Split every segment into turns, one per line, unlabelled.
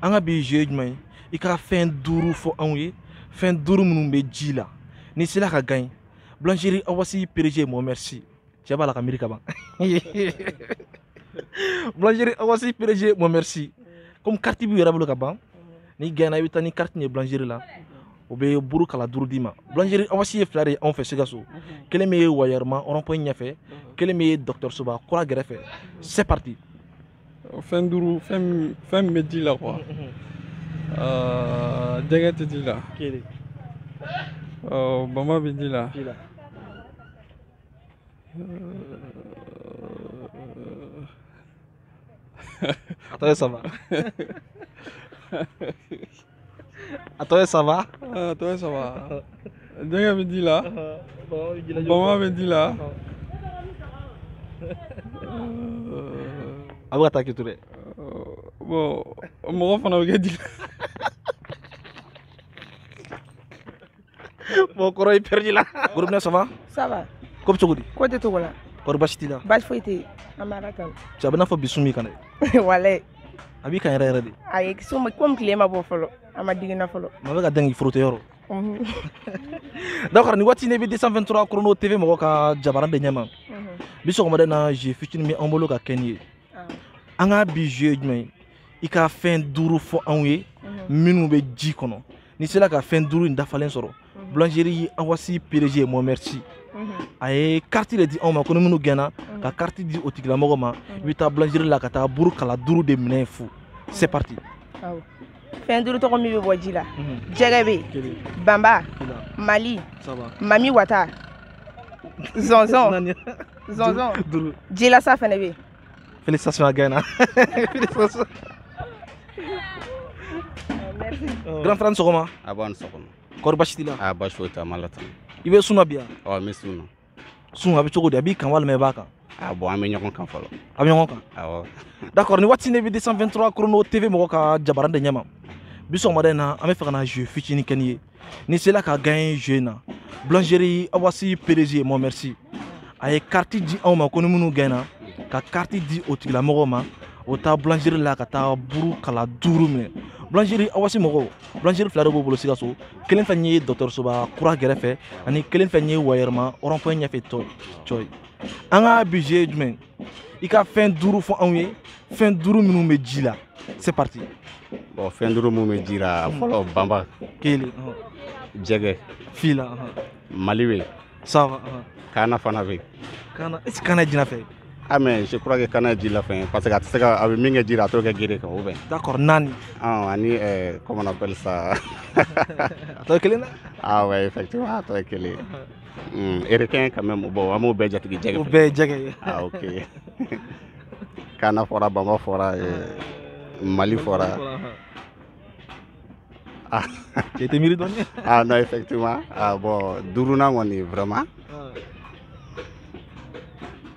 an ka bi jeu ye jumɛn ye i ka fɛn duuru fɔ anw ye fɛn duuru minnu bɛ ji la n'i sera ka gagner boulangerie awasi PDG mɔ merci cɛ b'a la ka miiri ka ban boulangerie awasi PDG mɔ merci komi kariti b'i yɛrɛ bolo ka ban n'i gaɲɛna i bɛ taa ni kariti ye boulangerie la o bɛ buru kala duuru d'i ma boulangerie awasi ye fila de ye anw fɛ sikaso kelen bɛ wayɛrɛma rond-point ɲɛfɛ kelen bɛ dɔgɔtɔrɔsoba kura gɛrɛfɛ c'est parti
fɛn duuru fɛn min bɛ ji la quoi jɛgɛ tɛ ji la bama bɛ ji la a
tɔ ye saba A tɔ ye saba. A tɔ ye
saba. Jɛgɛ bɛ ji la. Bama bɛ ji la.
A bɛ ka taa k'i to
dɛ. Bon mɔgɔ fana bɛ kɛ ji la.
bon kɔrɔ i pɛridila gorobinɛ ça va ça va
ko bɛ cogo di ko
tɛ togo la
kɔri basi t'i la
basi foyi tɛ yen an
bɛ ala tanu cɛ a b'i n'a fɔ bi sun
b'i kan dɛ walayi
a b'i kan yɛrɛ
yɛrɛ de ayi komi tile
ma bɔ fɔlɔ a ma digi n na fɔlɔ ma bɛ ka dɛn k'i frotter
yɔrɔ d'accord nin waati ne bɛ 223 chrono tv mɔgɔ ka jabaran de ɲɛma bi sɔgɔmada in na jeu fitinin bɛ an bolo ka kɛ n'i ye an ka bi jeu ye jumɛn ye i ka fɛn duuru fɔ anw ye mhm. minnu bɛ ji kɔnɔ n'i sera ka fɛn duuru in dafalen sɔrɔ mhm. boulangerie awasi PDG mɔ merci mhm. a ye kariti de di anw ma ko ni minnu gaɲɛna ka kariti di o tigilamɔgɔ ma i bɛ taa boulangerie la ka taa buru kala duuru de minɛ yen fu c'est
parti fɛn duuru tɔgɔ min bɛ bɔ ji la jɛgɛ bɛ banba mali mami
wata
zɔnzɔn zɔnzɔn jilasa fɛnɛ bɛ yen Félicitations a
gaɲɛna. Félicitations. Merci.
Grand frère sɔgɔma.
Nba i ni sɔgɔma.
Kɔri basi t'i la? A
basi foyi tɛ, an b'Ala
tanu. I bɛ sun na bi
wa? Ɔ n bɛ sun na.
Sun a bɛ
cogo di? A b'i kan walima i b'a kan? Ah bon an bɛ
ɲɔgɔn kan fɔlɔ. A bɛ ɲɔgɔn kan? Awɔ. D'accord nin
waati ne bɛ 223 Chrono TV mɔgɔ ka jabaran de ɲɛma. Bi sɔgɔmada in na an bɛ fɛ ka na jeu fitinin kɛ n'i ye. n'i sela ka gagner jeu in na boulangerie awasi PDG mɔ merci a ye carte di anw ma ko ni minnu gaɲɛna ka carte di o tigilamɔgɔw ma o taa boulangerie la ka taa buru kala duuru minɛ boulangerie awasi mɔgɔw boulangerie fila de b'o bolo sikaso kelen fɛn ye dɔgɔtɔrɔsoba kura gɛrɛfɛ ani kelen fɛn ye wayɛrɛma rond-point ɲɛfɛ tɔ cɔ ye an ka bi jeu jumɛn i ka fɛn duuru fɔ anw ye fɛn duuru minnu bɛ ji la c'est parti bon fɛn
duuru minnu bɛ ji la hmm. fɔlɔ bamba kelen
jɛgɛ
fila
mali bɛ
saba
kaana fana bɛ
kaana est ce que
kaana jilafɛn ah mais je
crois que kaana jilafɛn parce que a tɛ se ka a bɛ min kɛ ji la a t'o kɛ gere kan ou bien d'accord
naani ah ani euh,
comment on appelle ça a
tɔ ye kelen na ah ouais effectivement
a tɔ ye kelen Mm, requin quand même bon an b'o bɛɛ jate jɛgɛ o bɛɛ ye jɛgɛ ye
ah
ok kaana fɔra bama fɔra mali fɔra
ah cɛ i tɛ miiri dɔɔni ah non
effectivement ah bon duurunan kɔni vraiment ah.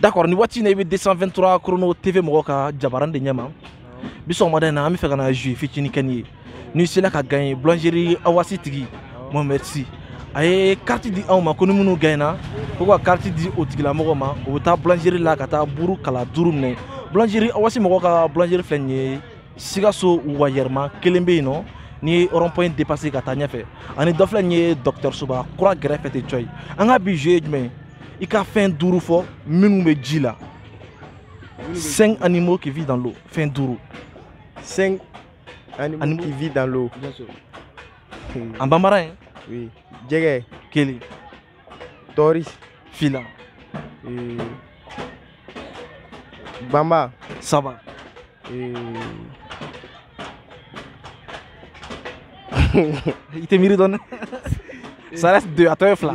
d'accord
nin waati na i bɛ 223 chrono tv mɔgɔ ka jabaran de ɲɛma bi sɔgɔmada in na an bɛ fɛ ka na jeu fitinin kɛ nin ye n'i sela ka gaɲe boulangerie awasi tigi Mohamed Sy a ye kariti di anw ma ko ni minnu gaɲena ko ka kariti di o tigilamɔgɔ ma o bɛ taa boulangerie la ka taa buru kala duuru minɛ boulangerie awasi mɔgɔ ka boulangerie filɛ nin ye sikaso wayɛrɛma kelen bɛ yen nɔ n'i ye rond point dépassé ka taa ɲɛfɛ ani dɔ filɛ nin ye dɔgɔtɔrɔsoba kura gɛrɛfɛ ten cɔyi an ka bi jeu ye jumɛn ye i ka fɛn duuru fɔ minnu bɛ ji la cinq animaux qui vivent dans l'eau fɛn duuru
cinq animaux, animaux qui vivent dans l'eau
en bambara hein oui. jɛgɛ
kelen tɔɔri
fila
euh, bamba
saba euh, i tɛ miiri dɔɔni ça reste deux a tɔ ye fila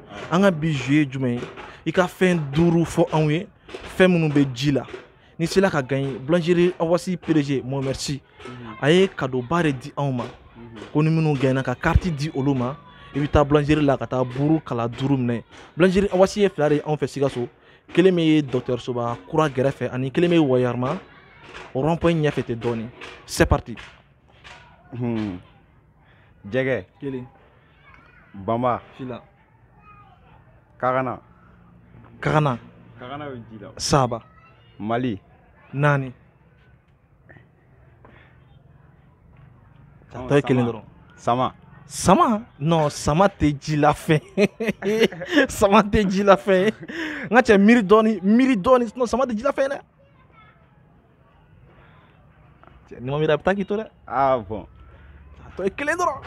an ka bi jeu ye jumɛn ye i ka fɛn duuru fɔ anw ye fɛn minnu bɛ ji la n'i sela ka gagner boulangerie awasi PDG Mohamed Sy mhm. a ye kadoba de di anw ma mhm. ko ni minnu gaɲena ka carte di olu ma i bɛ taa boulangerie la ka taa buuru kala duuru minɛ boulangerie awasi ye fila de ye anw fɛ Sikaso kelen bɛ yen dɔgɔtɔrɔsoba kura gɛrɛfɛ ani kelen bɛ Wayɛrɛma rond point ɲɛfɛ ten dɔɔnin c'est parti. Hmm.
jɛgɛ. kelen. Bama. Fila.
Kagana. Kagana. Kagana
bɛ ji la. Saba.
Mali.
Naani.
A tɔ ye kelen dɔrɔn.
Sama.
Sama non sama tɛ jilafɛn sama tɛ jilafɛn ye n ka cɛ miiri dɔɔni miiri dɔɔni sinon sama tɛ jilafɛn ye dɛ. Cɛ, N'i ma miiri a bɛ taa k'i to dɛ. Ah
bon. A tɔ
ye kelen
dɔrɔn.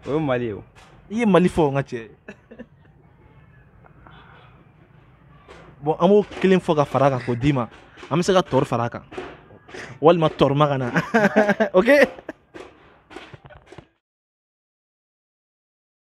O ye Mali ye o. I ye Mali fɔ n ka
cɛ. Bon an b'o kelen fɔ ka fara a kan k'o d'i ma. An bɛ se ka tɔri fara a kan. Walima tɔri ma ka na. ok?